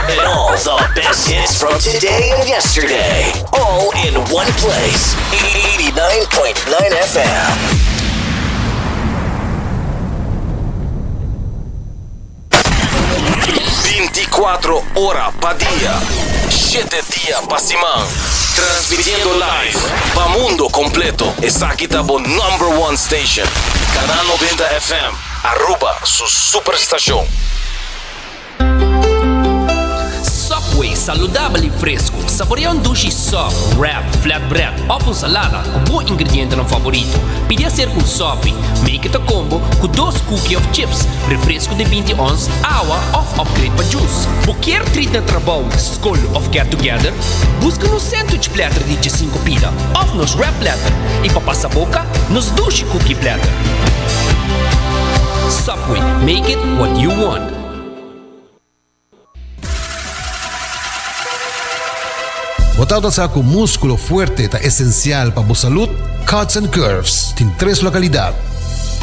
And all the best hits from today and yesterday. All in one place. 89.9 FM. Binticuatro ora pa dia, shete dia pa siman. Transmitiendo live pa mundo completo. Esaki ta bo number one station. Canal Noventa FM, Aruba su superstacion. Subway, saludabel i fresku. Saborea un dushi sub, wrap, flatbread òf un salada ku bo ingredientenan favorito. Pidi aser ku un sopi, make it a combo, ku dos kuki òf chips, refresku di binti ons, awa òf upgrade pa jus. Bo kier trit na trabou, skol òf get together? Buska nos sandwich platter di djesinku pida òf nos wrap platter i pa pasa boka, nos dushi kuki platter. Subway, make it what you want. Bo ta nota sa ku múskulo fuerte ta esensial pa bo salud? Cuts and Curves tin tres lokalidad,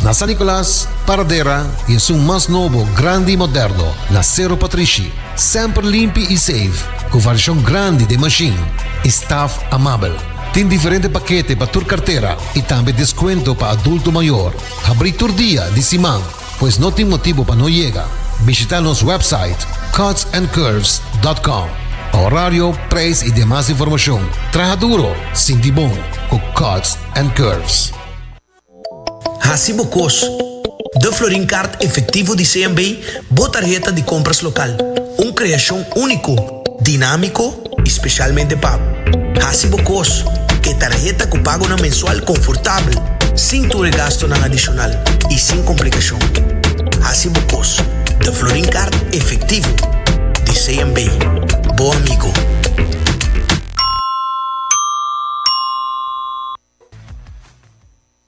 na San Nicolas, Paradera i esun mas nobo, grandi i moderno, na Cerro Patrishi. Semper limpi i safe, ku variashon grandi den mashin i staf amabel. Tin diferente pakete pa tur kartera i tambe deskuento pa adulto mayor. Habrí tur dia di siman. Pues no tin motibu pa no yega. Bishita nos website cutsandcurves.com pa horario, prijs y demas informacion. Traha duro, sinti bon cu Cuts and Curves. Haci bo cos. Da Florin Kaart Efectivo di CMB bo tarheta di compras local, un creacion unico. dinámiko i spesialmente pa hasi bo kos ku e tarheta ku pagonan mensual konfortabel, sin tur e gastunan adishonal i sin komplikashon. Hasi bo kos den Florin Kart efektivo di CMB, bo amigo.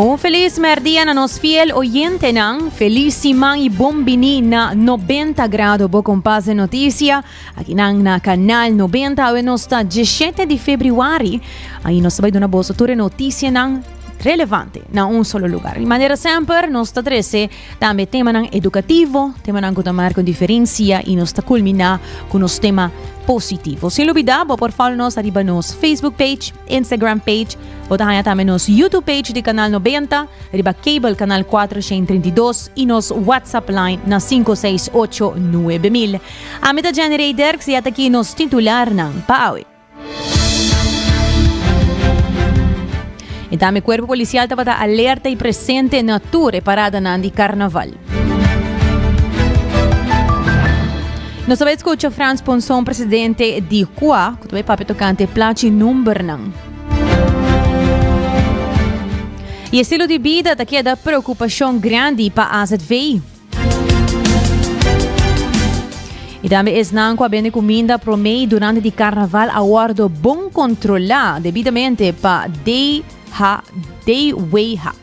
Un feliz merdia na nos fiel oyentenan. Feliz siman y bon bini na 90 grado bo kompas de noticia. Aki nan na Kanal 90 awe nos ta 17 di febriwari. Ahi nos ta bai duna boso tur e notisienan relevante na un solo lugar. Di manera semper nos ta trese tambe temanan edukativo, temanan ku ta marka un diferensia i nos ta kulminá ku nos tema positivo. Sin lubidá bo por follow nos ariba nos Facebook page, Instagram page, bo ta haña tambe nos YouTube page di Kanal 90, riba cable Kanal 4 632 i nos WhatsApp line na 568 9000. Ami ta Jenny Rey Derks y e ta ki nos titularnan pa awe. E ta mi cuerpo policial tabata alerta y presente na tur e paradanan di Carnaval. Nos ta bai escucha Frans Ponson, presidente di CUA, cu ta bai papia tocante e placa y numbernan. Y estilo di bida ta keda preocupacion grandi pa AZVI. Y tambe esnan cu a bende cuminda prome y durante di carnaval a wordo bon controla debidamente pa DHA, DWHA.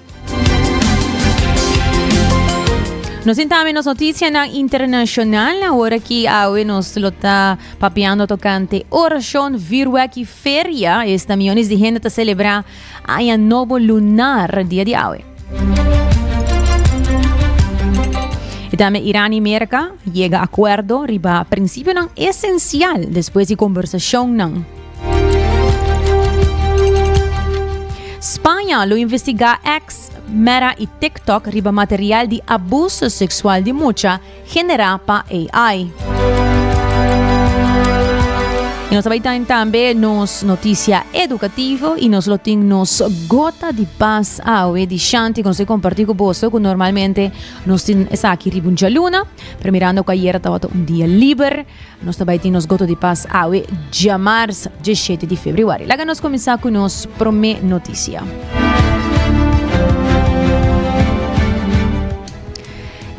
Nos tin tambe nos noticianan internacional, ahora ki awe nos lo ta papiando tocante oracion, virwek y feria. Esta millones di hende ta celebra Aña nobo lunar dia di awe. Y tambe Iran y Merca yega acuerdo riba principionan esencial despues di conversacionnan. Spanje lo investiga X, Meta y TikTok riba material di abuso sexual di mucha generá pa AI. I nos ta bai tan tambe nos notisia edukativo i nos lo tin nos gota di bas awe di shanti ku nos ke kompartí ku boso ku normalmente nos tin esaki riba un djaluna, pero mirando ku ayera tabata un dia liber nos ta bai tin nos gota di bas awe djamars djeshete di febrüari. Laga nos kuminsá ku nos promé notisia.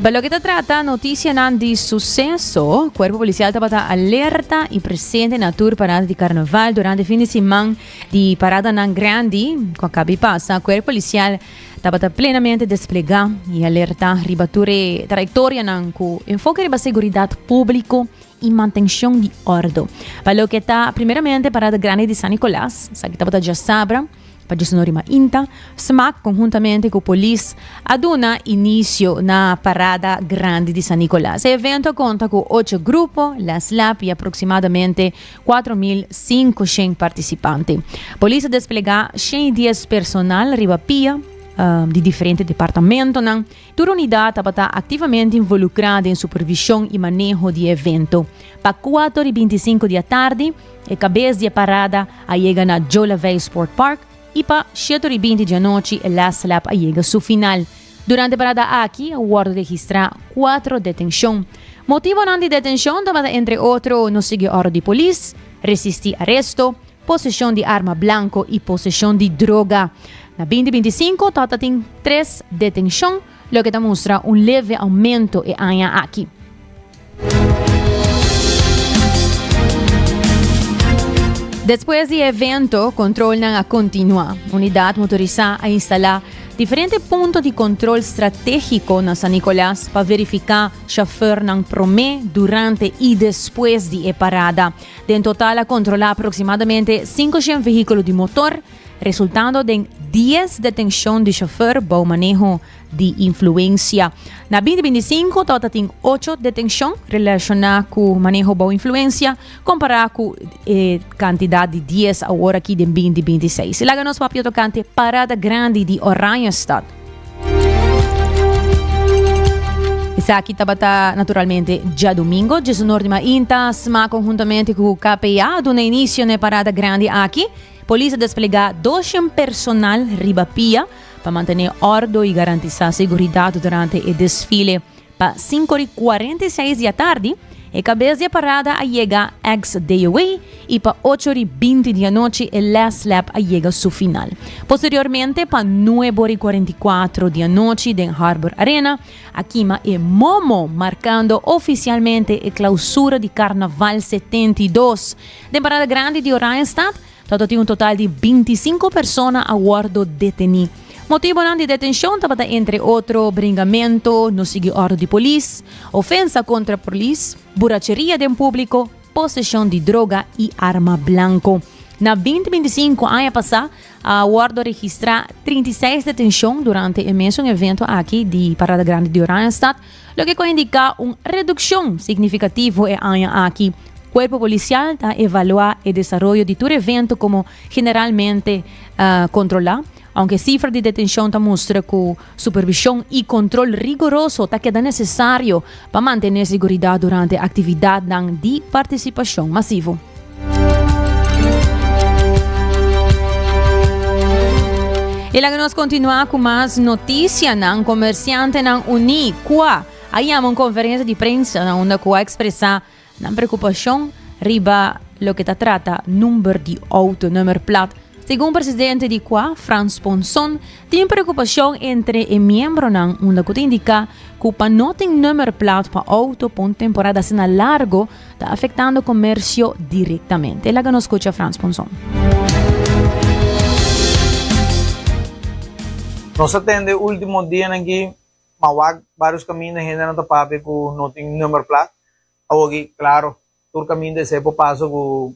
Pa lo que ta trata noticianan di suceso, Cuerpo Policial tabata alerta y presente na tur parada di carnaval durante fin de semana di parada nan grandi, cu acabi pasa, Cuerpo Policial tabata plenamente desplega y alerta riba tur e trayectorianan cu enfoque riba seguridad publico y mantencion di ordo. Pa lo que ta primeramente parada grandi di San Nicolas, sa que tabata diasabra, Pa dje sonó rima inta, smac conhuntamente cu polis a duna inicio na parada grandi di San Nicolas. E evento a conta cu ocho grupo, las lap y aproximadamente cuatro mil cincoshen participante. Polis a desplegá shen y dies personal riba pia di diferente departamentonan. Tur unidat tabata aktivamente involukrá den supervishon i maneho di e evento. Pa kuato di bintisinku di atardi, e kabes di e parada a yega na Jolavei Sport Park i pa sheto di binti di anochi e last lap a yega su final. Durante e parada aki a wòrdu registrá kuatro detenshon. Motibonan di detenshon tabata entre otro no sigui òrdu di polis, resistí aresto, Poseshon di arma blanko i poseshon di droga. Na binti binti i sinku tok ta tin tres detenshon, loke ta mustra un leve oumento e aña aki. Despues di e evento, kontrolnan a kontinuá. Unidat motorisá a instalá diferente punto di kontrol stratégiko na San Nikolas pa verifiká shofèrnan promé, durante i despues di e parada. Den total a kontrolá aproksimadamente sinku shen vehíkulo di motor, resultando den dies detenshon di shofèr bou maneho di influensia. Na binti binti sinku tabata ta tin ocho detenshon relashoná ku maneho bou influensia, kompará ku e kantidat di dies aworakí den binti binti seis. Laga nos papia tokante Parada Grandi di Oranjestad. Esaki tabata naturalmente djadumingo, djesunordimainta, sma konhuntamente ku KPA a duna inisio na e parada grandi aki. Polis a desplegá doshen personal riba pia pa mantené ordo i garantisá seguridat durante e desfile. Pa sinku di kuarenta i seis di atardi, e kabes di e parada a yega Ex Deowee i pa ocho di binti di anochi e last lap a yega su final. Posteriormente pa nuebo di kuarenta i kuatro di anochi den Harbor Arena a kima e momo markando ofisialmente e klausura di Karnaval setenta i dos den Parada Grandi di Oranjestad Tabata tin un total di binti i sinku persona a wòrdu detení. Motibonan di detenshon tabata entre otro bringamentu, no sigui òrdu di polis, ofensa kontra polis, buracheria den públiko, poseshon di droga i arma blanko. Na binti binti i sinku aña pasá a wòrdu registrá trinta i seis detenshon durante e mesun eventu aki di Parada Grandi di Oranjestad, loke ku a indiká un redukshon signifikativo e aña aki. Kuerpo Polisial ta evaluá e desaroyo di tur evento komo generalmente kontrolá, ounke sifra di detenshon ta mustra ku supervishon i kontrol rigoroso ta keda nesesario pa mantené seguridat durante aktividatnan di partisipashon masivo. E laga nos kontinuá ku mas notisianan. Komersiantenan uní, kua, a yama un konferensia di prensa na unda ku a ekspresá nan preokupashon riba loke ta trata number di outo, nummerplaat. Segun presidente di kua, Frans Ponson, tin preokupashon entre e miembronan unda ku ta indiká ku pa no tin nummerplaat pa outo pa un temporada asina largo, ta afectando comercio directamente. Laga nos scucha Frans Ponson. Nos a tende ultimo dianan aki, ma wak varios caminda hendenan ta papia cu no tin number plaat. Awo aki, claro, tur caminda esey por pasa cu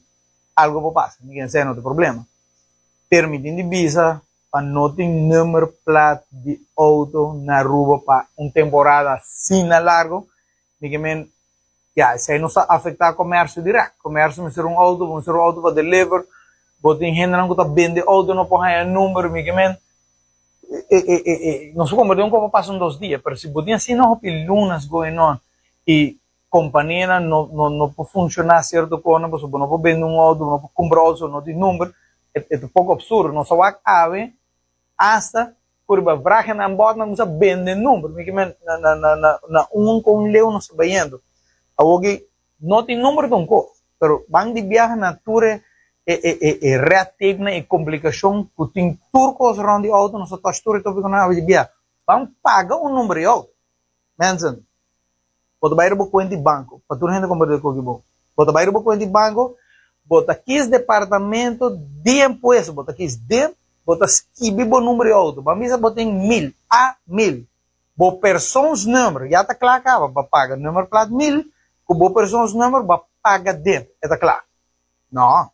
algo por pasa, mi ken sey no tin problema. Pero mi tin di bisa pa no tin number plaat di auto na Aruba pa un temporada asina largo, Mi ke men, Ya, esei no sa afektá komèrsio dirèk. Komèrsio mester un outo, bo mester un outo pa deliver. Bo tin hendenan ku ta bende outo, no por haña e number. Mi ke men, E, e, e, e, no su konbèrtí un kos pa pasa un dos dia. Pero si bo tin asina hopi lunas going on, i kompanianan no, no, no por funshoná sierto kosnan pasobra bo no por bende un outo, bo no por kumpra outo pasobra no tin number, e, e ta poko opsurdo. Nos a wak awe. Asta purba vragen nan bot nan kusa bende number mi kimen na un ku un leu nos ta bayendo awor ki no tin number ta un kos pero ban di biaha na tur e e red tape nan e komplikashon ku tin tur kos rond di outo nos ta touch tur e topi ku nan habi di biaha ban paga un number di outo Mensen, bo ta bai riba bo kuenta di banko, pa tur hende kompartir ku aki bo. Bo ta bai riba bo kuenta di banko, bo ta kis departamento di impuesto, bo ta kis dir, bo ta skibi bo number di outo, bo a bisa bo tin mil, a mil, bo personsnummer, ya ta kla kaba, bo a paga nummerplaat mil, ku bo personsnummer bo a paga dir, e ta kla. No.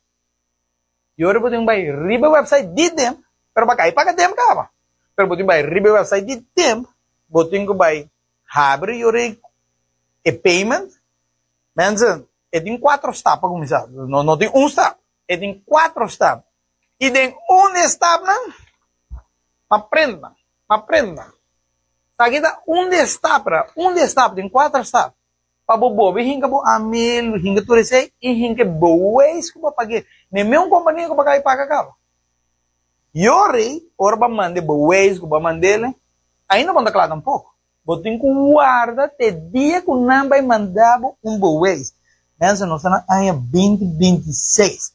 Yori bo tin bai riba e website di Demp pero pa kai paga Demp kaba pero bo tin bai riba e website di Demp bo tin ku bai habri yori e payment mensen e tin cuatro stap pa kuminsá no no tin un stap e tin cuatro stap i den un di e stapnan m'a prent nan m'a prent nan sa aki ta un di e stapnan un di e stap tin cuatro stap. pa bo bobe hinka bo amel hinka tur esei i hinka e boeis ku bo pag'e neme un kompania ku bo ka bi paga kaba yo rei ora bo a manda e boeis ku bo a mand'e ainda bo no ta kla tampoko bo tin ku warda te dia ku nan bai manda bo un boeis mènse nos ta na aña binti binti i seis.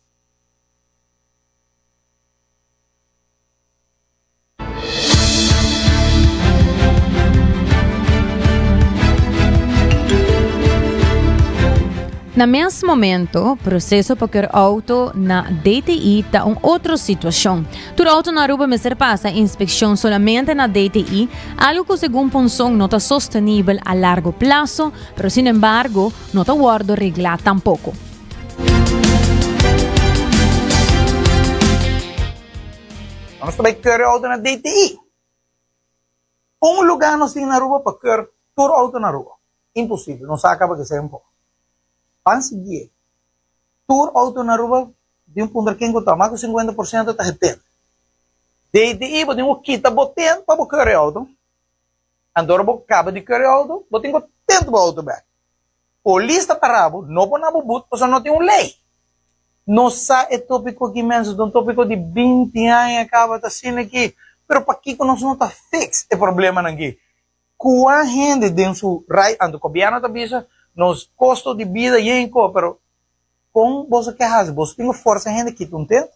Na mes momento, proseso pa keur auto na DTI ta un otro situacion. Tur auto na Aruba mester pasa inspeccion solamente na DTI, algo cu segun Ponson no ta sostenibel a largo plazo, pero sin embargo no ta wordo regla tampoco. Nos ta bai keur e auto na DTI. Un lugar nos tin na Aruba pa keur tur auto na Aruba? Imposible, nos a caba kese tempo. Pan sigie, tur auto na Aruba di un punto na ken cu ta mas cu cincuenta por ciento ta getend. DTI bo tin cu kita bo tend pa bo keur e auto. Antora bo kaba di keri outo, bo tin ku tenta bo outo bek. Polis ta para bo, no por na bo but, pasobra no tin un lei. No sa e topiko aki mes, es un topiko di binti aña kaba ta asina aki, pero pakiko nos no ta fix e problemanan aki? Kua hende den su right anto? Gobierno ta bisa nos kosto di bida yen ko, pero kon boso ke hasi? Boso tin ku forsa e hende kita un tent,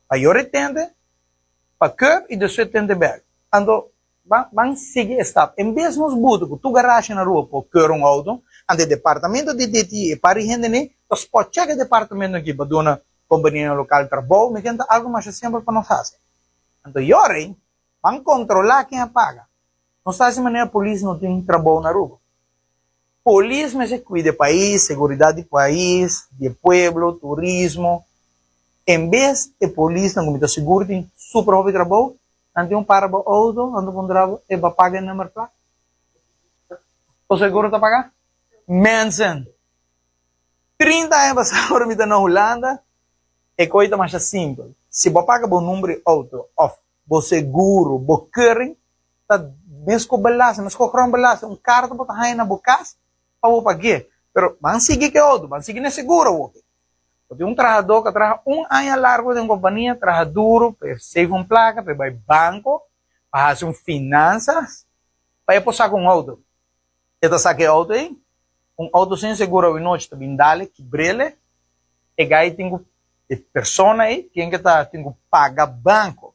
ayora e tente pa koop i despues e tente bek. Anto, Ban ban sigui e stap. En bes nos butu ku tur garasha na rua por kura un outo, anto e departamento di DTI e pari hendenan ta spot check e departamentonan aki pa duna kompanianan lokal trabou, mi kende ta algu masha simpel pa nos hasi. Anto yora ei ban kontrolá ken a paga. Nos ta hasi manera polis no tin trabou na Aruba. Polis mester kuida e pais, seguridat di pais, di e pueblo, turismo. En bes e polisnan ku mi ta sigur tin super hopi trabou, Nan tin un parabo outo, nan ta puntra bo, e bo paga e number plak? Bo seguro ta paga? Mensen! Trinta aña pasá ora mi ta na Hulanda, e koi ta masha simpel. Si bo paga bo number di outo òf bo seguro, bo keuring, ta mes ku belasting, mes ku grondbelasting, un karta bo ta haña na bo kas, pa bo pagu'é, pero ban sigui ku e otro, ban sigui n'e seguro hopi. Bo tin un trahadó ku a traha un aña largu den un kompania, traha duru pa e save un plaka, pa e bai banko, pa hasi un finansas, pa e por saka un outo. E ta saka e outo ei, un outo sin seguro awinochi ta bin dale, kibrele, e gai tin ku, e persona ei, tin ku paga banko.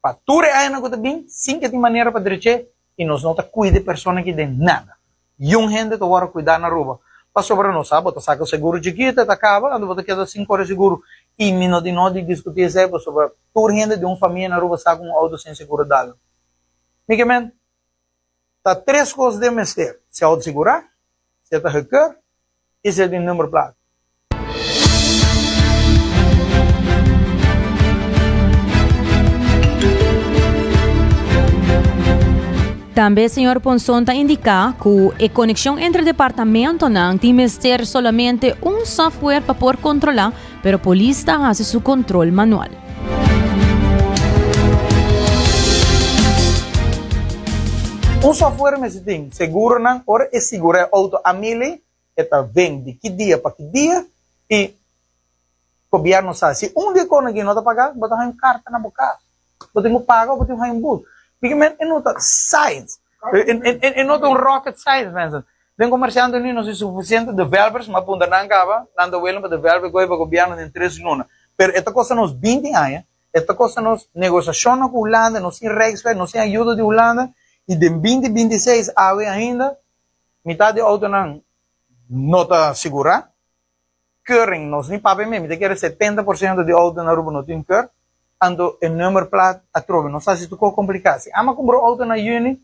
pa tur e añanan ku ta bin sin ke tin manera pa drech'é i nos no ta kuida e persona aki den nada. Yun hende ta wòrdu kuidá na Aruba pasobra nos sa bo ta saka seguro chikito e ta kaba anto bo ta keda sin kore seguro i mi no tin nada di diskutí esei pasobra tur hende di un famia na Aruba sa ku un outo sin seguro dal. Mi ke mente. ta tres cos den mester, si auto segura, si e ta gekeur y si e tin number placa. Tambe señor Ponson ta indica cu e coneccion entre departamentonan tin mester solamente un software pa por controla pero polis ta hasi su control manual. Us afuer mester tin seguronan ora e sigura e auto a mil ei, e ta ven di ki dia pa ki dia y gobierno sa si un di e cosnan aki no ta paga bo ta haña un carta na bo cas bo tin cu paga o bo tin cu haña un bus bigamente e no ta science. E no ta un rocket science, mensen. Den comercianten nu no tin suficiente developers, ma punta nan caba, nan ta willing pa develop e coe pa gobierno den tres luna. Pero e ta costa nos binti aña, e ta costa nos negociacionnan cu Hulanda, nos sin rijksweg, nos sin ayuda di Hulanda, y den binti binti seis awe ainda, mitad di autonan no ta sigura. Keuring, nos ni papia mi, mi ta kere setenta por siento di outo na Aruba no tin keur, anto e number plat atrobe nos ta hasi tuko kompliká. Si ami a kumpra un outo na yüni,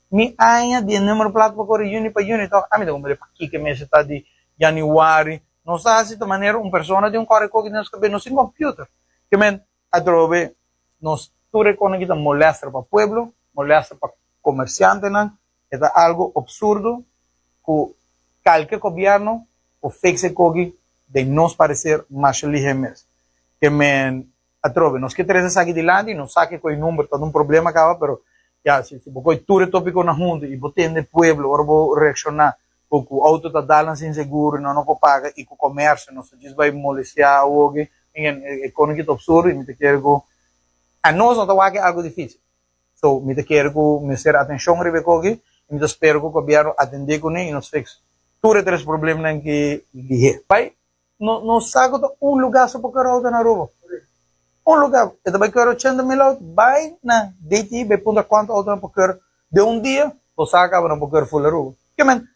mi aña di e number plat pa kore yüni pa yüni tòg, ami ta kumpra di pakiko e mester ta di yanüari. Nos ta hasi ta manera un persona tin un kòrikoki den nos kabes, nos tin kompüter. Ke men, Atrobe nos tur e kosnan ki ta molèster pa pueblo, molèster pa komersiantenan, e ta algu opsurdo ku kalke gobièrnu por fikse e koki den nos pareser masha lihe mes. Ke men atrobe nos ke trese esaki dilanti, no sa ke koe number ta un problema kaba pero ya si bo koe tur e topikonan huntu i bo tende pueblo ora bo reakshoná Bo ku outo ta danan sin seguro i no no por paga i ku komersio nos ta djis bai molestiá awoge en e kono kita op sur i mi ta kere ku a nos no ta wak algu difisil so mi ta kere ku mester atenshon riba e koki i mi ta spera ku gobièrnu atendé kuné i nos fix tur e tres problemnan ki dihé. Bai No sa cu ta un lugar so pa coyo auto na Aruba. Un lugar. E ta bay coyo ochenta mil auto. Bay na DTI bay puntra cuanto auto nan por coyo den un dia. Bo sa caba nan por coyo full Aruba. Ciamente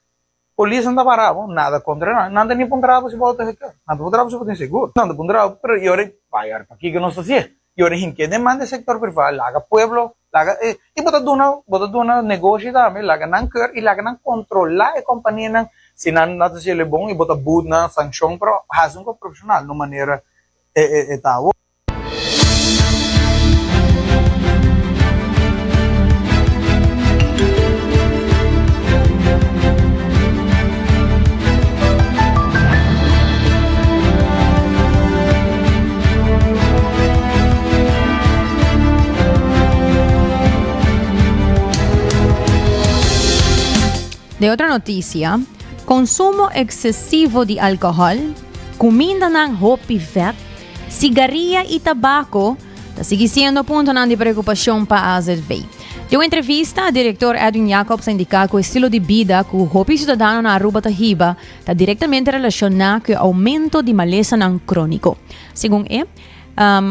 polisnan ta parabo. Nada contra nan. Nan ta ni puntrabo si bo auto ta coyo. Nan ta puntrabo si bo tin segur. Nan ta puntrabo. Pero y ora y bay ora pakico nos ta hacié? Y ora hin ke demanda e sector privado laga pueblo laga e y bo ta duna bo ta duna negoshi tambe laga nan keur y laga nan controla e compania nan si nan no ta hacelo bon y bo ta boet nan sancion pero haci con profesional no manera e e e ta awo. De otro noticia, consumo excesivo di alcohol, cumindanan hopi vet, sigaria y tabaco ta sigui siendo puntonan di preocupacion pa AZV. De un entrevista, director Edwin Jacobs a indica cu estilo di bida cu hopi ciudadanonan Aruba ta hiba, ta direktamente relashoná ku e oumento di malesanan króniko. Segun e,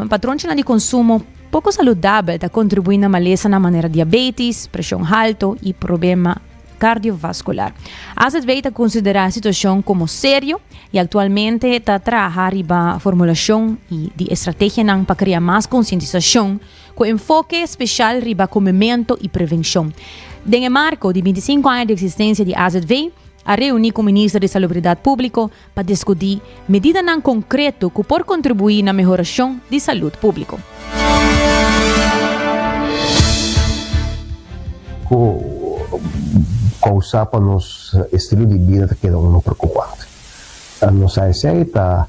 patronchinan di konsumo poko saludabel ta kontribuí na malesanan manera diabétis, preshon halto i problema kardiovaskular. AZB ta konsiderá e situashon komo serio i aktualmente ta traha riba formulasyon di estrategianan pa krea mas konsientisashon cu enfoke special riba comemento y prevencion. Den e marco di binti sinku aña di existencia di AZV, a reuni cu Minister di Salubridad Publico pa discuti medidanan concreto cu por contribui na mehoracion di salud publico. Cu causa pa nos estilo di bida ta keda unda preocupante. Nos ASI ta.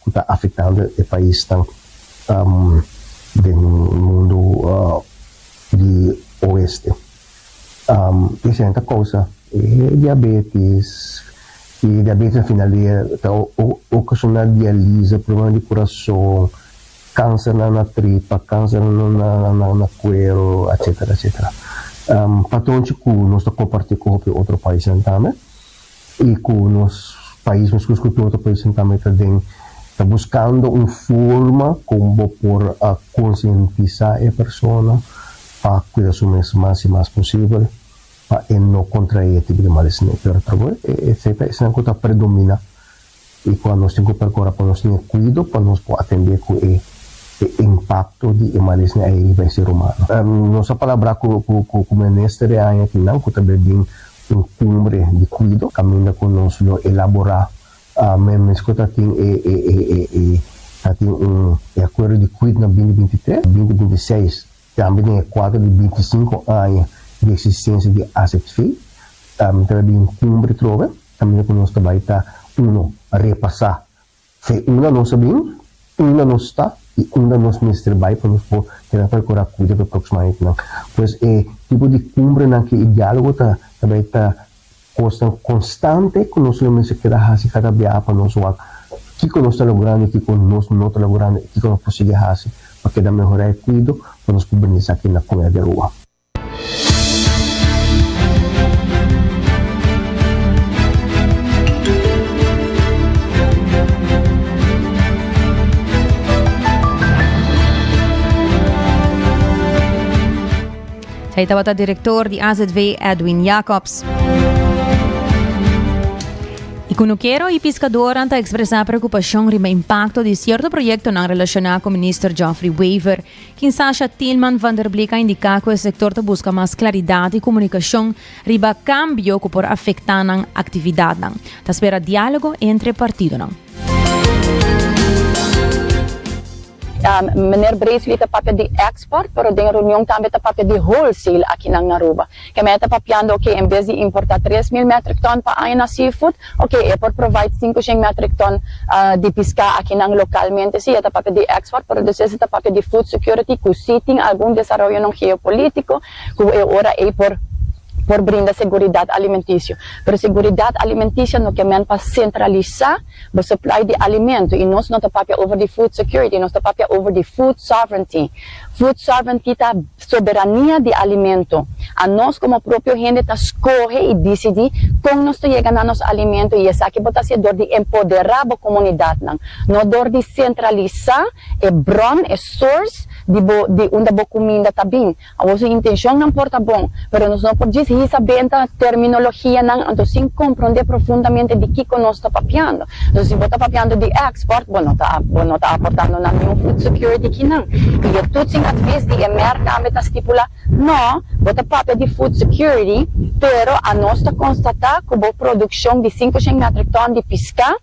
ku ta afektando e paisnan den mundu di Oeste. E hende ta kousa e diabetis, i e diabetis na final dia ta okashona dialisa, problema di kurason, kanser na tripa, kanser na kuero, etsetera etsetera. Patonchi ku nos ta komparti ku hopi otro paisnan tambe, y cu nos pais nos cus cu tur otro pais en cambio ta den ta buscando un forma con bo por a concientisa e persona pa cuida su mes mas y mas posibel pa e no contrae e tipo di males ne pero ta bo e efecto esanan cu ta predomina e cual nos tin cu percora pa nos tin cuido pa nos por atende cu e e impacto di e malesña ey riba e ser humano. Nos a palabra cu cu cu Minister e aña aki nan cu ta bai bin un cumbre di cuido caminda cu nos lo elabora men mes cu ta tin e e e e e ta tin un e acuerdo di cuid na binti binti tres, binti binti seis tambe den e cuadro di binti sinku aña di existencia di AZV ta bai bin un cumbre trobe. Camino cu nos ta bay ta, uno, repasa fe unda nos a bin, unda nos sta y unda nos mester bay pa nos por keda percora cuida pa e proximo añanan. Pues e tipo di cumbrenan cu e dialogo ta ta bay ta cosnan constante cu nos lo mester keda haci cada biaha pa nos wak kico nos ta logrando y kico nos no ta logrando y kico nos por sigui haci pa keda mehora e cuido pa nos por bini esaki na Comunidad di Aruba. Ei tabata direktor di AZW Edwin Jacobs. I kunukero i piskadoran ta ekspresá preokupashon riba impakto di sierto proyektonan relashoná ku Minister Geoffrey Wever. Kinsasha Tielman van der Bleek a indiká ku e sektor ta buska mas klaridat i komunikashon riba kambio ku por afektá nan aktividatnan. Ta spera diálogo entre partidonan. Meneer Bresley ta papia di export, pero den e reunion tambe ta papia di wholesale akinan na Aruba. Kemé e ta papiando oke en bes di importa tres mil metric ton pa aña na seafood oke e por provide sinku shen metric ton di piská aki nan localmente si e ta papia di export pero des ese ta papia di food security ku si tin algun desaroyonan geopolitico ku e ora ey por por brinda seguridad alimenticio pero seguridad alimenticio no kemen pa centralisa bo supply di alimento y nos no ta papia over di food security nos ta papia over di food sovereignty food sovereignty ta. Soberania di alimento. A nos komo propio hende ta skohe i disidí kon nos ta yega na nos alimento i esaki bo ta hasié dor di empoderá bo komunidatnan, no dor di sentralisá e bron, e source, di bo di unda bo kuminda ta bin. Awosu intenshonnan por ta bon, pero nos no por djis hisa benta terminologianan anto sin komprondé profundamente di kiko nos ta papiando. So si bo ta papiando di export bo no ta bo no ta aportando na niun food security kinan. Y e toets in advies di e merk tambe ta stipula, No, bo ta papia di food security, pero a nos ta constata cu bo produccion di sinku shen metric ton di pisca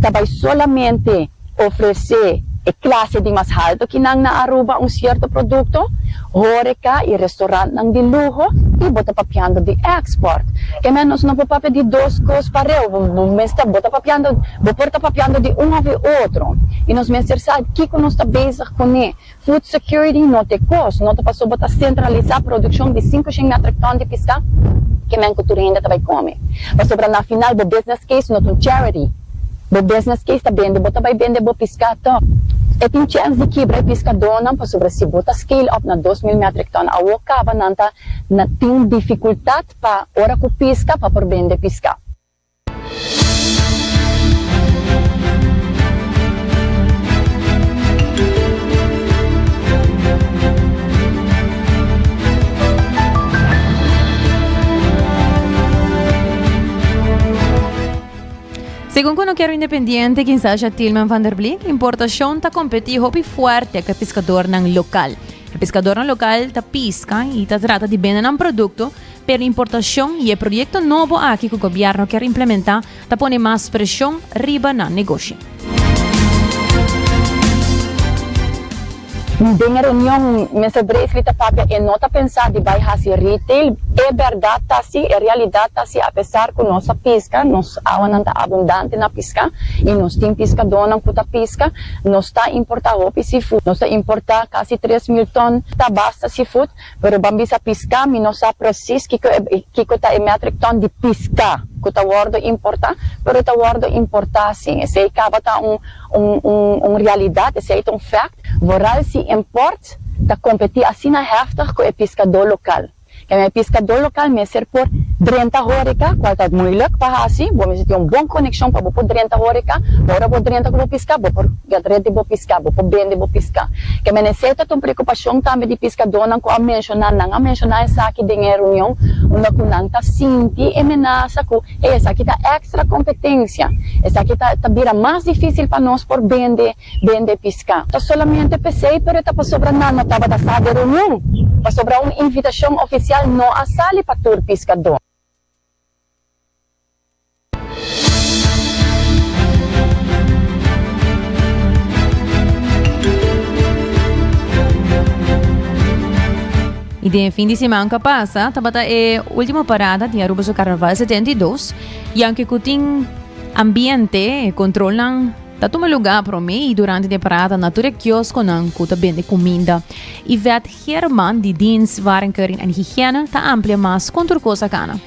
ta bay solamente ofrece e clase di mas halto kinan na Aruba un cierto producto, Horeca y restaurantnan di luho y bo ta papiando di export. Ke men nos no por papia di dos cos pareu, bo mester bo ta papiando, bo por ta papiando di un of di otro y nos mester sa kico nos ta bezig cune. Food security no t'e cos, no ta paso bo ta centralisa produccion di cinco shen metric ton di pisca ke men cu tur hende ta bay come. Pasobra na final bo business case no ta un charity. Bo business case ta bende, bo ta bai bende bo piscá tòg. E tin chèns di kibra e piscadónan pasobra si bo ta scale up na dos mil metric ton awor caba nan ta na tin dificultad pa ora cu pisca pa por bende piscá. Segun ku nokero independiente Kinsasha Tilman van der Bleek, importashon ta kompetí hopi fuerte ku e piskadornan lokal. E piskadornan lokal ta piska i ta trata di bende nan produkto, pero importashon i e proyekto nobo aki ku gobièrnu ker implementá ta pone mas preshon riba nan negoshi. Den e reunion, Mister Bracely ta papia e no ta pensa di bai hasi retail. E berdad ta si, e realidad ta si, apesar cu nos a pisca, nos awanan ta abundante na pisca y nos tin piscadornan cu ta pisca, nos ta importa hopi seafood. Nos ta importa casi tres mil ton ta basta seafood. Pero ban bisa piská, mi no sa presis kiko e kiko ta e metric ton di piská ku ta wòrdu importá, pero ta wòrdu importá sí. Esei tabata un un un un realidat, esei ta un fèkt, vooral si import ta kompetí asina hèftig ku e piskadó lokal. Kèn e piskadó lokal mester por drenta horika, kual ta muilik pa hasi, bo mester tin un bon konekshon pa bo por drenta horika, ora bo drenta ku bo piská, bo por. Get red di bo piská, bo por bende bo piská. E menesé ta ta un preokupashon tambe di piskadónan ku a menshoná. Nan a menshoná esaki den e reunion unda ku nan ta sinti e menasa ku, Hey, esaki ta èkstra kompetensia. Esaki ta ta bira mas difísil pa nos por bende bende piská. Ta solamente p'esei, pero e ta pasobra nan no tabata sa den reunion, pasobra un invitashon ofisial no a sali pa tur piskadó. Y den e fin di seman cu a pasa tabata e ultimo parada di Aruba su Carnaval 72 y aunque cu tin ambiente e controlnan ta tuma lugar prome y durante de parada na tur e kiosconan cu ta bende cuminda. Yvette Kier man di dienst waren keuring en higiene ta amplia mas kon tur kosa kana.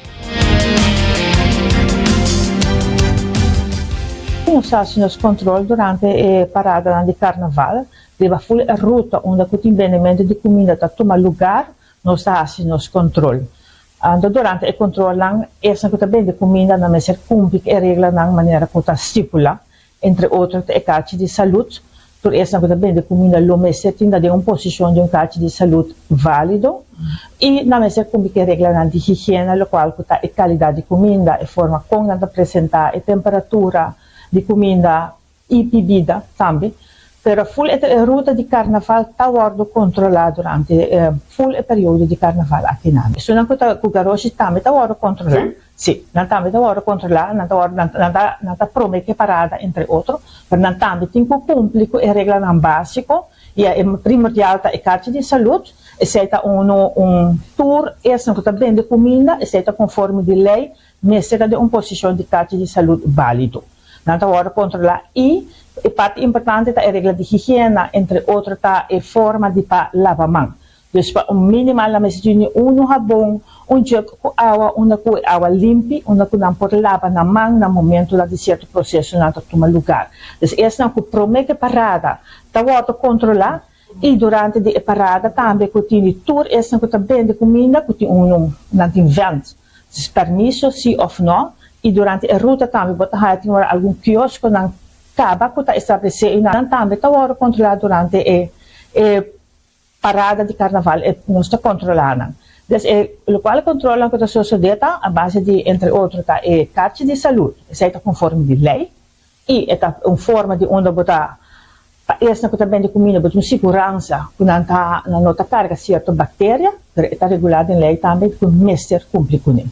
Kon nos hasi nos kontrol durante e paradanan di karnaval? Riba ful e ruta unda ku tin bendementu di kuminda ta tuma lugar nos ta hasi nos kontrol. Anto durante e kontrolnan esnan ku ta bende kuminda nan mester kumpli ku e reglanan manera ku ta stipula. Entre otro ta e kachi di salud. Tur esnan ku ta bende kuminda lo mester tinda den un posishon di un kachi di salud válido i nan mester kumpli ku e reglanan di higiena lokual ku ta e kalidat di kuminda, e forma kon nan ta presentá, e temperatura di kuminda i bibida tambe. Pero ful e ruta di karnaval ta wòrdu kontrolá durante ful e periodo di karnaval akinan. Esunnan ku ta ku garoshi tambe ta wòrdu kontrolá. Sí, nan tambe ta wòrdu kontrolá, nan ta wòrdu, nan ta, nan ta, nan ta promé ku e parada entre otro, pero nan tambe tin ku kumpli ku e reglanan básiko, i a e primordial ta e karchi di salùt, esei ta un un un tur esnan ku ta bende kuminda, esei ta konforme di lei, mester ta den un posishon di karchi di salùt bálido. Nan ta wòrdu kontrolá i e parti importante ta e regla di higiena, entre otro ta e forma di pa laba man. Dus pa un minimal nan mester yu ni unu habon, un jug ku awa, unda ku e awa limpi, unda ku nan por laba nan man na momentu nan di sierto prosesonan ta tuma lugar. Dus esnan ku promé ku e parada ta wòrdu kontrolá i durante di e parada tambe ku tin di tur esnan ku ta bende kuminda ku tin unu nan tin vènt, dus permiso si òf nò, i durante e ruta tambe bo ta haña tin ora algun kioskonan kaba ku ta establesé i nan tambe ta wòrdu kontrolá durante e e. Parada di Carnaval e nos ta controla nan. Des e locual controlnan cu ta sosode ta a base di entre otro ta e carchi di salud, esai ta conforme di ley y e ta un forma di unda bo ta pa esnan cu ta bende cuminda bo ta un siguransa cu nan ta nan no ta carga cierto bacteria pero e ta regular den ley tambe cu mester cumpli cunen.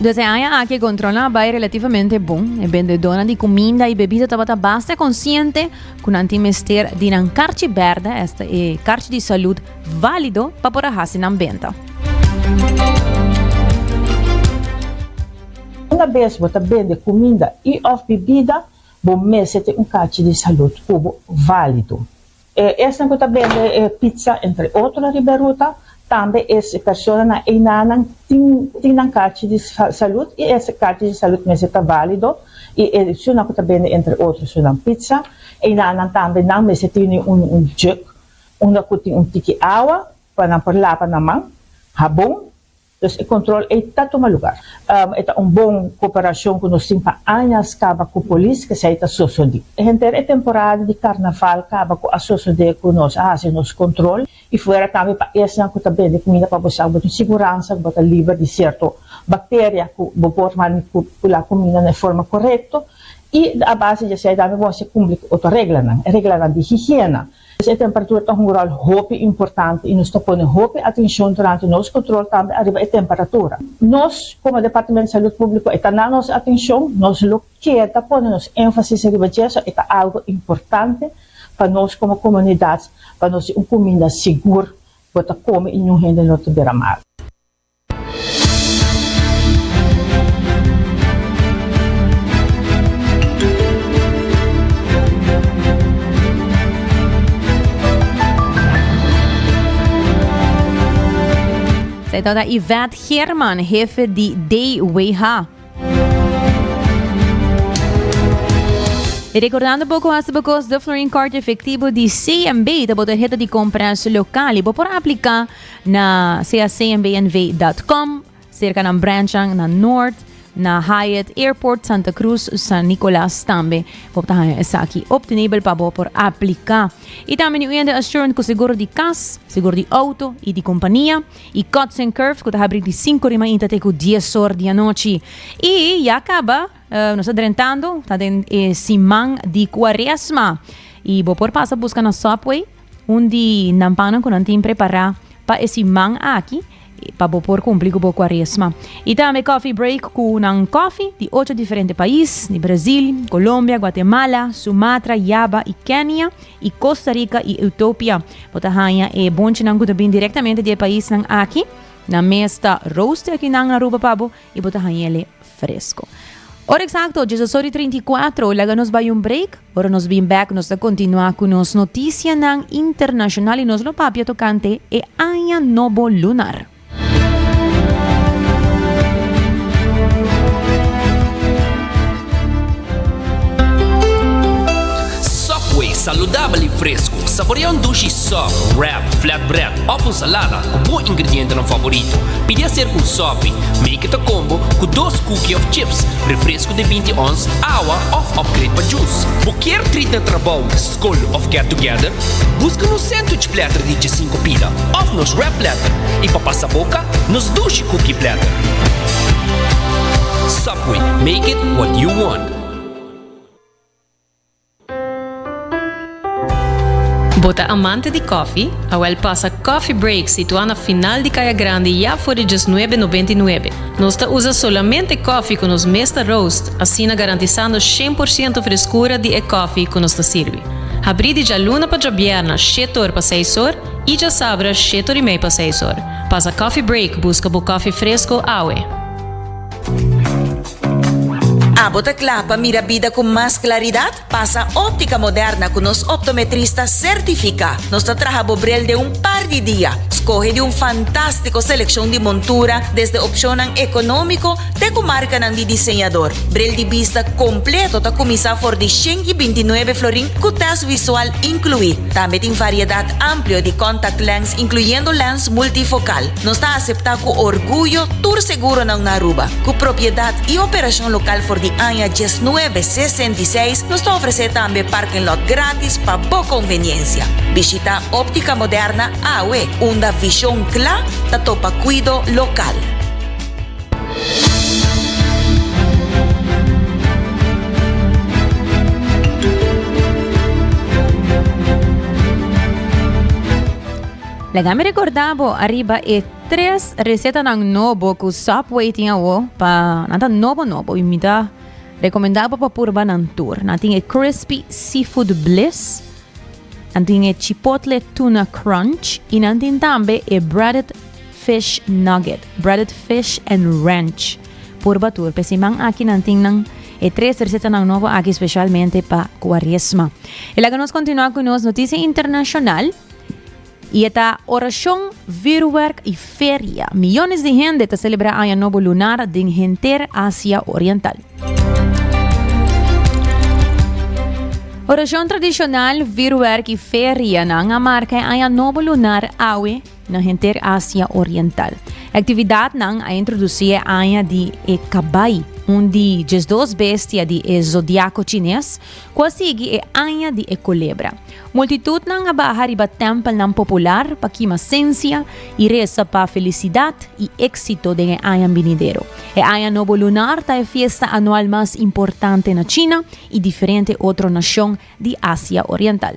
Des e aña aki e control a bay relativamente bon. E bendedona di cuminda y bebida tabata basta consciente cu nan tin mester di nan carchi berde, esta e carchi di salud, valido pa por a haci nan benta. Una bes bo ta bende kuminda i òf bibida, bo mester tin un kachi di salud ku bo válido. E esnan ku ta bende pitsa, entre otro, riba e ruta, tambe e personanan einanan tin tin nan kachi di salud i e kachi di salud mester ta válido. I e sunan ku ta bende, entre otro, sunan pitsa, einanan tambe nan mester tene un un jug unda ku tin un tiki awa pa nan por lapa nan man, habon, Los e control ey ta tuma lugar. E ta un bon cooperacion cu nos tin pa añas caba cu polis kesey ta sosodi. Henter e temporada di carnaval caba cu a sosode cu nos a haci nos control y fuera tambe pa esnan cu ta bende cuminda pa bo sa cu bo tin siguransa cu bo ta liber di cierto bacteria cu bo por manipula cuminda na e forma corecto y a base di esey tambe bo a cumpli cu otro reglanan, e reglanan di higiena. E temperatura ta hunga ròl hopi importante i nos ta pone hopi atenshon durante nos kontrol tambe ariba e temperatura. Nos, komo Departamento Salud Públiko, e ta na nos atenshon, nos lo keda pone nos énfasis riba dje, so e ta algu importante pa nos komo komunidat pa nos tin un kuminda sigur bo ta kome i ñun hende no ta bira mal. Esei tabata Yvette German, hefe di DWH. Y recordando poco hasta bo kost de Florin Kort efectivo di CMB, ta bo tarjeta di compras local y bo por aplica Na cacnbnv dot com, serka nan branchnan na Noord, na Hyatt Airport, Santa Cruz, San Nicolas tambe. Bo ta haya esaki obtenibel pa bo por aplica. Y tambe ni oyente assurant cu seguro di cas, seguro di auto y di compania. Y Cuts and Curves cu ta habri di cinco di mainta te cu dies or di anochi. Y ya caba, eh, nos ta drentando, ta den e siman di Cuaresma. Y bo por pasa busca nos Subway, Un di nan pannan ku nan tin prepará pa e siman aki pa bo por kumpli ku bo kuaresma. I tambe Coffee Break ku nan kofi di ocho diferente pais, di Brazil, Colombia, Guatemala, Sumatra, Java i Kenia, i Costa Rica i Utopia. Bo ta haña e bonchinan ku ta bini direktamente di e paisnan aki. Nan mes ta roaste aki nan Aruba pa bo i bo ta haña ele fresko. Ora eksakto, djesa sot i trinta i kuatro, laga nos bai un break. Ora nos bin bek nos ta continua cu nos noticianan internacional y nos lo papia tocante e aña nobo lunar. Subway, saludabel y fresco. Saborea un dushi soft, wrap, Flatbread of un salada cu bo ingredientenan favorito. Pidi a ser un sopi, make it a combo, cu dos cookie of chips, refresco di binti ons, awa of upgrade pa juice. Bo kier treat na trabou, scol of get together? Busca nos sandwich platter di djesinco pida of nos wrap platter y pa pasa boca, nos dushi cookie platter. Subway, make it what you want. Bo ta amante di kòfi? Awèl pasa Coffee Break situá na final di Kaya Grandi ya for di djes nuebe nobenta i nuebe. Nos ta usa solamente kòfi ku nos mes ta roast, asina garantisando shen por siento freskura di e kòfi ku nos ta sirbi. Habrí di djaluna pa djabièrna shete or pa seis or i djasabra shete or i mei pa seis or. Pasa Coffee Break buska bo kòfi fresko awe! Abo ta kla pa mira bida ku mas klaridat? Pasa Óptica Moderna ku nos optometrista sertifiká. Nos ta traha bo brel den un par di dia. Skohe di un fantástiko selekshon di montura, desde opshonnan ekonómiko te ku markanan di diseñador. Brel di bista kompleto ta kuminsá for di shen i binti nuebe florin ku tèst visual inkluí. Tambe tin variedat amplio di contact lens, inkluyendo lens multifokal. Nos ta aseptá ku orguyo tur seguronan na Aruba. Ku propiedat i operashon lokal for di aña diesnuebe sesenta i seis, nos ta ofresé tambe parking lot gratis pa bo konveniensia. Bishita Optica Moderna awe, unda vishon kla ta topa kuido lokal. Laga mi recorda bo arriba e tres recetanan nobo cu Subway tin awo pa nan ta nobo nobo y mi ta recomenda bo pa purba nan tur. Nan tin e crispy seafood bliss, nan tin e chipotle tuna crunch y nan tin tambe e breaded fish nugget, breaded fish and ranch. Purba tur, pe siman aki nan tin nan e tres recetanan nobo aki specialmente pa cuaresma. Y laga nos continua cu nos noticia internacional. Y e ta oracion, virwerk y feria. Miyones di hende ta celebra Aña Nobo Lunar den henter Asia Oriental. Oracion tradicional, virwerk y ferianan a marca e Aña Nobo Lunar awe na henter Asia Oriental. E actividadnan a introduci e aña di e Cabai, un di diesdos bestia di e zodiaco Chines, ku a sigui e aña di e kulebra. Multitutnan a baha riba tèmpelnan popular pa kima sensia i resa pa felisidat i éksito den e aña binidero. E Aña Nobo Lunar ta e fiesta anual mas importante na China i diferente otro nashon di Asia Oriental.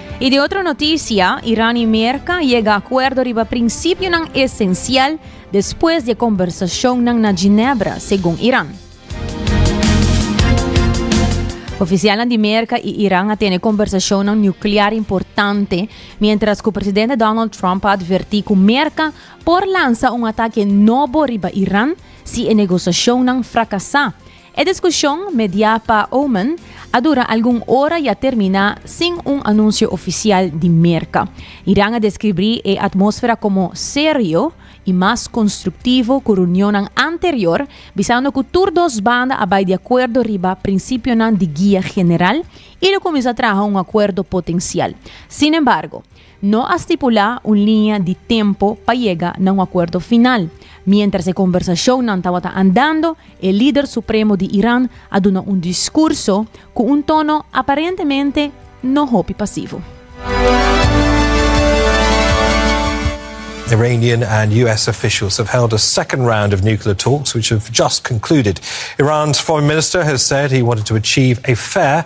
Y di otro noticia, Iran y Merca yega acuerdo riba principionan esencial despues di e conversacionnan na Ginebra, segun Iran. Oficialnan di Merca y Iran a tene conversacionnan nuclear importante, mientras cu presidente Donald Trump a adverti cu Merca por lansa un ataque nobo riba Iran si e negociacionnan fracasa. E diskushon, mediá pa Oman, a dura algun ora i a terminá sin un anunsio ofisial di Merka. Iran a deskribí e atmósfera komo serio i mas konstruktivo ku reunionnan anterior, bisando ku tur dos banda a bai di akuerdo riba prinsipionan di guia general i lo kuminsá traha un akuerdo potensial. Sinembargo, No a stipulá un liña di tempu pa yega na un akuerdo final. Miéntras e kombersashonnan tabata andando, e lider supremo di Iran a duna un diskurso ku un tono aparentemente no hopi pasivo. Iranian and US officials have held a second round of nuclear talks which have just concluded. Iran's foreign minister has said he wanted to achieve a fair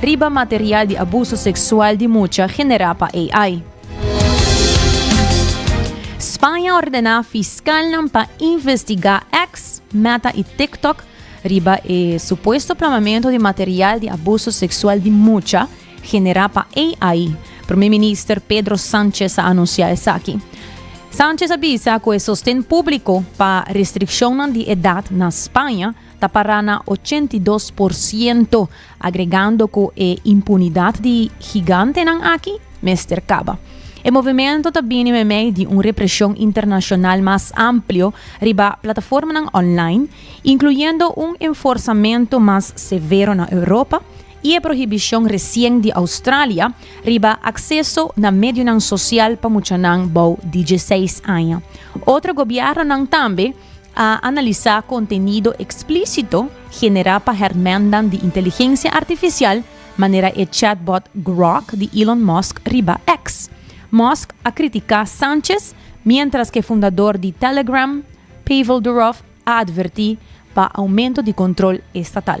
riba material di abuso seksual di mucha generá pa AI. Spaña ordená fiskalnan pa investigá X, Meta i TikTok riba e supuesto plamamentu di material di abuso seksual di mucha generá pa AI. Prome Minister Pedro Sánchez a anunsiá esaki. Sánchez a bisa ku e sosten públiko pa restrikshonnan di edat na Spaña ta pará na ochenta i dos por siento, agregando ku e impunidat di higantenan aki mester kaba. E movimento ta bini meimei di un represhon internashonal mas amplio riba plataformanan online, inkluyendo un enforsamentu mas severo na Europa i e prohibishon resien di Australia riba akseso na medionan sosial pa muchanan bou di dieseis aña. Otro gobièrnunan tambe a analisá kontenido eksplísito generá pa hèrmèndan di inteligensia artifisial manera e chatbot Grok di Elon Musk riba X. Musk a kritiká Sánchez miéntras ku e fundador di Telegram, Pavel Durov a advertí pa oumento di kontrol estatal.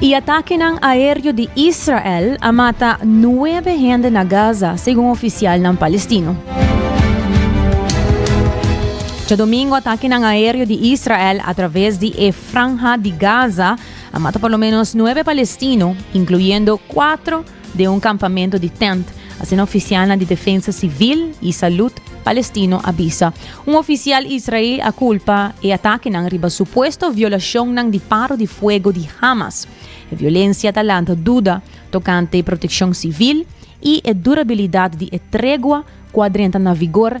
E atakenan aéreo di Israel a mata nuebe hende na Gaza, segun ofisialnan palestino. Djadomingo atakenan aéreo di Israel atraves di e Franja di Gaza a mata por lo ménos nuebe palestino, inkluyendo kuater den un kampamentu di tènt, asina ofisialnan di defensa sivil i salud palestino a bisa. Un ofisial Israel a kulpa e atakenan riba supuesto violashonnan di paro di fuego di Hamas. E violensia ta lanta duda tokante protekshon sivil i e durabilidat di e tregua ku a drenta na vigor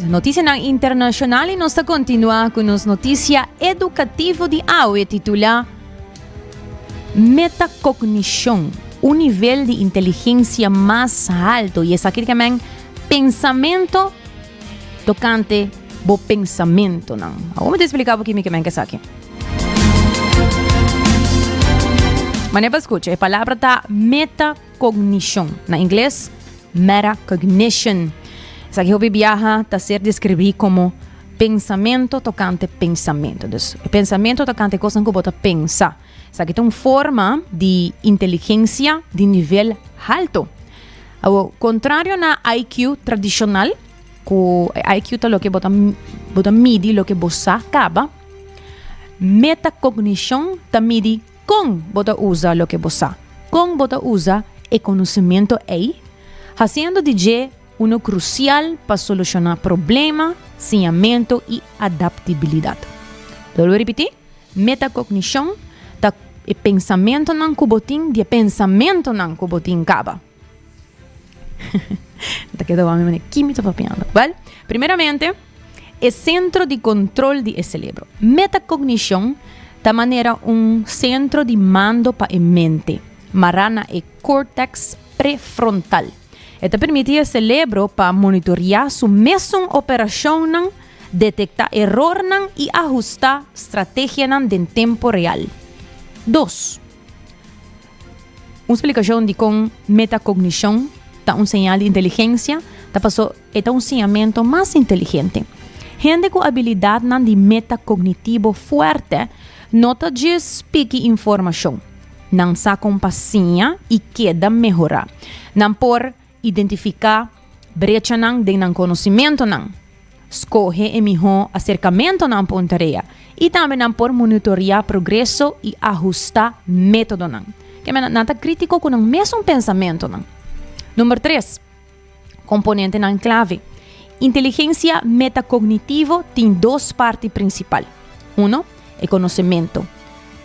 Notisianan internashonal i nos ta kontinuá ku nos notisia edukativo di awe titulá Metakognishon, un nivel di inteligensia mas haltu i esaki ta men pensamentu tokante bo pensamentunan. Awor mi ta eksplika bo kimi ke men ke esaki. Manera pa skucha, e palabra ta meta. Kognishon, na ingles, metacognition. Esaki hopi biaha ta ser deskribí komo pensamentu tokante pensamentu. Dus, e pensamentu tokante kosnan ku bo ta pensa. Esaki ta un forma di inteligensia di nivel haltu. Awor, kontrario na IQ tradishonal, ku e IQ ta loke bo ta bo ta midi loke bo sa kaba, metakognishon ta midi. Kon bo ta usa loke bo sa? Kon bo ta usa e konosementu ei? Hasiendo di dje uno krusial pa solushoná problema, siñamentu i adaptibilidat. Lo lo ripití, Metakognishon ta e pensamentunan ku bo tin di e pensamentunan ku bo tin kaba. Ta keda wami mane kimi ta papiando. Bal, primeramente, e sentro di control di e celebro. Metacognition ta manera un centro di mando pa e mente, mará na e cortex prefrontal. E ta permiti e celebro pa monitorea su mesun operacionnan, detecta erornan y ajusta strategianan den tempo real. Dos. Un splikashon di kon metakognishon ta un señal di inteligensia ta paso e ta un siñamentu mas inteligente. Hende ku abilidatnan di metakognitivo fuerte no ta djis piki informashon. Nan sa kon pa siña i keda mehorá. Nan por Identifiká brechanan den nan konosimentonan. Skohe e mihó aserkamentonan pa un tarea i tambe nan por monitoreá progreso i ahustá métodonan. Keme nan? Nan ta krítiko ku nan mesun pensamentonan. Number tres, komponentenan klave. Inteligensia metakognitivo tin dos parti prinsipal. Uno, e konosementu.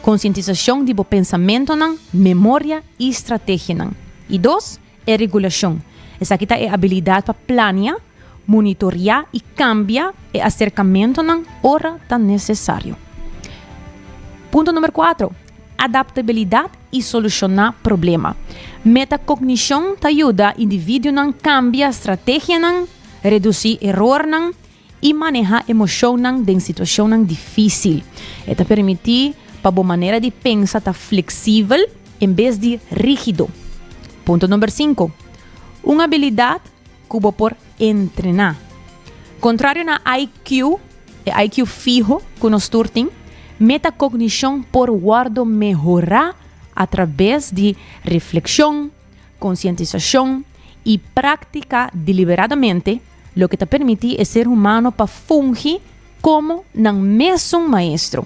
Konsientisashon di bo pensamentonan, memoria i strategianan. I dos, E regulashon. Esaki ta e abilidat pa plania, monitoria i kambia e aserkamentonan ora ta nesesario. Punto number kuater, adaptabilidat i solushoná problema. Metakognishon ta yuda individuonan kambia strategianan, redusí erornan i maneha emoshonnan den situashonnan difísil. E ta permití pa bo manera di pensa ta fleksibel en bes di rígido. Punto number sinku. Un abilidat ku bo por entrená. Kontrario na IQ, e IQ fiho ku nos tur tin, metakognishon por wòrdu mehorá atrabes di reflekshon, konsientisashon i práktika deliberadamente, loke ta permití e ser humano pa fungi komo nan mésun maestro.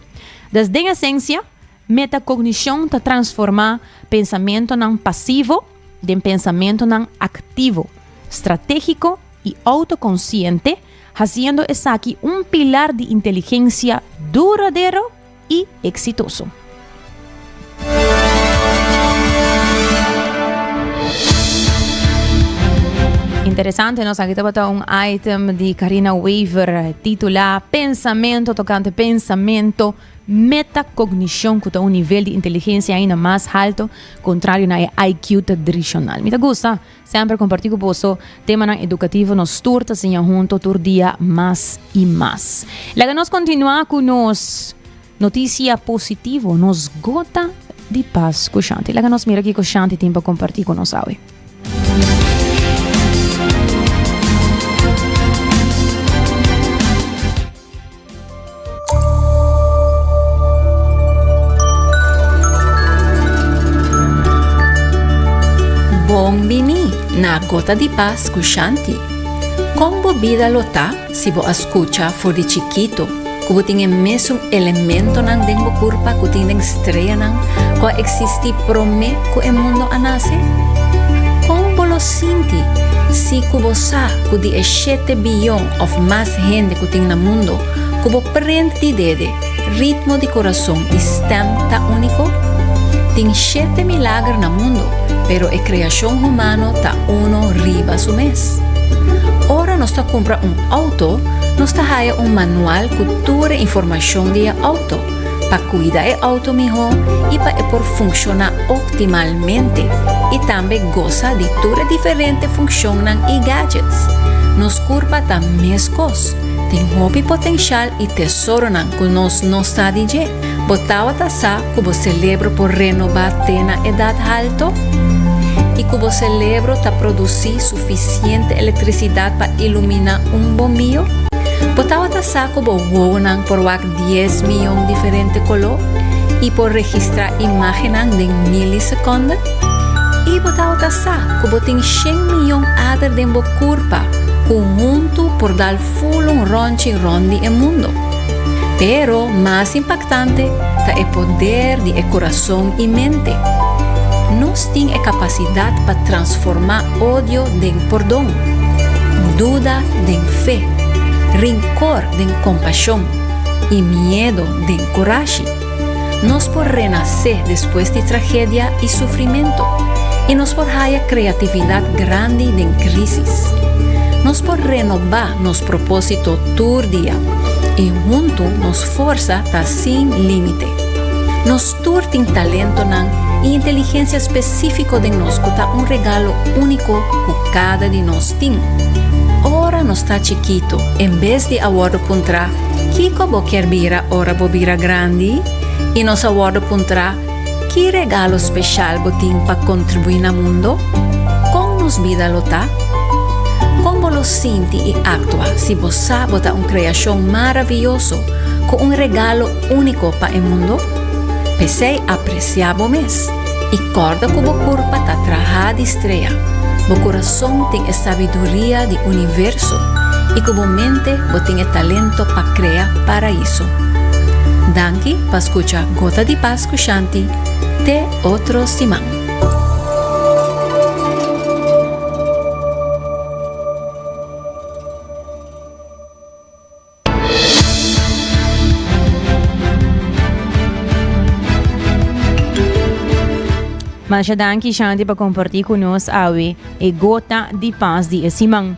Des den esensia, metakognishon ta transformá pensamentonan pasivo den pensamentonan aktivo, stratégiko i outokonsiente, hasiendo esaki un pilar di inteligensia duradero, i eksitoso. Interesante nos aki tabata un item di Carina Wever titula Pensamento tocante pensamento metacognicion cu ta un nivel di inteligencia aina mas alto contrario na e IQ tradicional. Mi ta gusta Semper comparti cu boso temanan educativo nos stoer ta siña hunto tur dia mas y mas. Laga nos continua cu nos noticia positivo, nos gota di paz cu Shanti. Laga nos mira kico Shanti tin pa comparti cu nos awe. Bon bini na Gota di Pas ku Shanti. Kon bo bida lo ta si bo a skucha for di chikito ku bo tin e mesun elementonan den bo kurpa ku tin den streanan ku a eksistí promé ku e mundu a nase? Kon bo lo sinti si ku bo sa ku di e shete biyon òf mas hende ku tin na mundu ku bo prende di dede ritmo di kurason i stèm ta úniko? Tin shete milager na mundu, pero e kreashon humano ta uno riba su mes. Ora nos ta kumpra un outo, nos ta haya un manual ku tur e informashon di e outo. pa cuida e auto miho y pa e por funciona optimalmente y tambe goza di tur e diferente funcion-nan y gadgets. Nos curpa ta mescos, tin hopi potencial y tesoro-nan cu nos no sa di dje. Bo tawata sa cu bo celebro por renoba te na edad halto? Y cu bo celebro ta produci suficiente electricidad pa ilumina un bombio? Bo tawata sa cu bo wowo-nan por wak dies miyon diferente koló i por registrá imágennan den milisekonde? I bo tabata sa ku bo tin shen miyon ader den bo kurpa ku huntu por dal ful un rònchi rònt di e mundu? Pero mas impaktante ta e poder di e kurason i mente. Nos tin e kapasidat pa transformá odio den pordon, duda den fe, rinkor den kompashon i miedo den kurashi. Nos por renasé despues di tragedia i sufrimentu, i nos por haya kreatividat grandi den krísis. Nos por renobá nos propósito tur dia, i huntu nos forsa ta sin límite. Nos. Tur tin talentonan i inteligensia spesífiko den nos ku ta un regalo úniko ku kada di nos tin. Ora nos ta chikitu, en bes di a wòrdu puntrá kiko bo kier bira ora bo bira grandi, i nos a wòrdu puntrá ki regalo speshal bo tin pa kontribuí na mundo, kon nos bida lo ta? Kon bo lo sinti i aktua si bo sa bo ta un kreashon maravioso ku un regalo Úniko pa e mundo, p'esei apresiá bo mes i kòrda ku bo kurpa ta trahá di strea, bo kurason tin e sabiduria di universo i ku bo mente bo tin e talento pa krea paraíso. Danki pa skucha Gota di Pas ku Shanti, te otro siman. Masha danki Shanti pa comparti cu nos awe e gota di pas di e siman.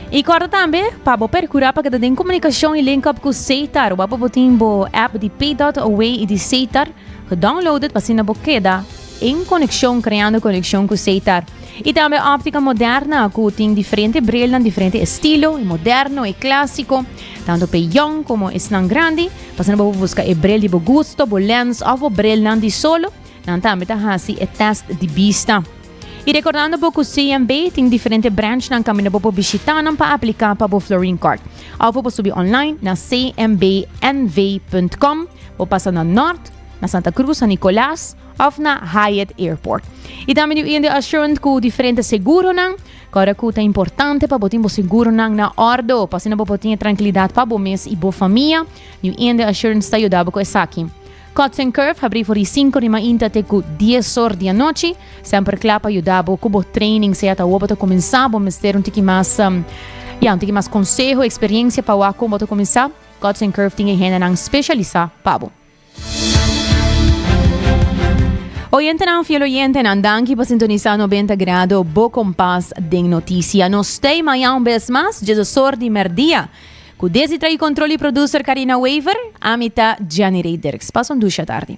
Y corda tambe pa bo percura pa keda den comunicacion y link up cu Seitar. Wapo bo tin bo app di Pay.away y di Seitar gedownloaded pa sina bo keda en konekshon kreando konekshon ku Seitar. I tambe óptika moderna ku tin diferente brilnan, diferente estilo, e moderno, e klásiko, tanto pe yong komo esnan grandi. Pasando bo por buska e bril di bo gusto, bo lens òf bo brilnan di solo, nan tambe ta hasi e tèst di bista. I rekordando bo ku CMB tin diferente branchnan kaminda bo por bishitá nan pa apliká pa bo Florin Kòrt. Òf bo por subi online na cmbnv punt com, bo pasa na Nòrt, na Santa Cruz, San Nicolas of na Hyatt Airport. Y también di hoy assurant cu diferente seguro nan, cora cu ta importante pa botin bo seguro nan na ordo, pa sino bo botin tranquilidad pa bo mes y bo familia, di hoy assurant sta yudabo cu esaki. Cuts and Curve habri for di 5 di mainta te cu 10 or di anochi, semper cla pa yudabo cu bo training, sea ta awor bo ta comensa, bo mester un tiki mas, ya, un tiki mas conseho, experiencia pa wak con bo ta comensa, Cuts and Curve tin e hende nan specialisa pa bo. Oyentenan fiel oyentenan, danki pa sintonisa Nobenta Grado, bo kompas den notisia. Nos stay maya un bes mas, djezasor di merdia. Ku desi tra'i kontrol di produser Karina Wever, ami ta Janny Rey Dirks. Pasa un dusha tardi.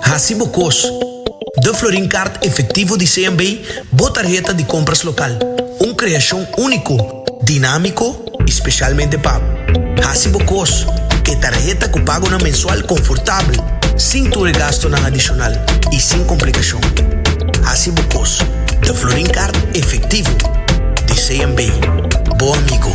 Hasi bo kos. Da Florin Kart Efektivo di CNB bo tarheta di kompras lokal, un kreashon úniko, dinámiko i spesialmente pa Hasi bo kos, e tarheta ku pagonan mensual konfortabel, sin tur e gastunan adishonal i sin komplikashon. Hasi bo kos. Da Florin Kart Efektivo di CNB, bo amigo.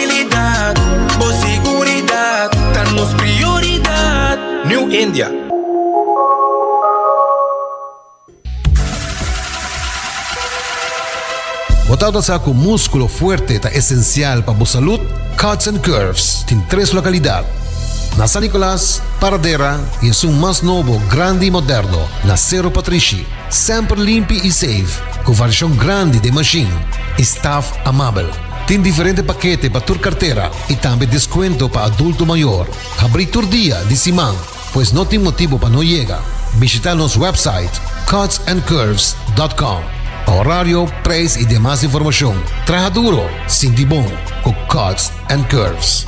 Tranquilidad, bo seguridad ta nos prioridad. New India. Bo ta alcansa cu musculo fuerte ta esencial pa bo salud? Cuts and Curves tin tres localidad, na San Nicolas, Paradera y esun mas nobo, grandi y moderno, na Cerro Patrishi. Semper limpi y safe, cu variacion grandi den machine y staff amabel. Tin diferente pakete pa tur kartera i tambe deskuento pa adulto mayor. Habrí tur dia di siman, pues no tin motibu pa no yega. Bishitá nos wèpsait cutsandcurves.com pa horario, preis i demas informashon. Traha duro, sinti bon ku Cuts and Curves!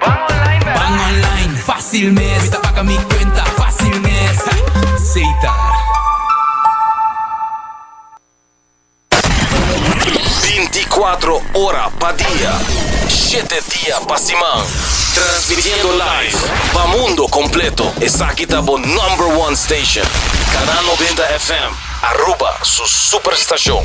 Ban online bè. Ban online fácil mes. Mi ta paga mi cuenta fácil mes. Seita. Binti kuatro ora pa dia, shete dia pa siman. Transmitiendo live pa mundo completo. Esaki ta bo number one station. Canal Noventa FM, Aruba su superstacion.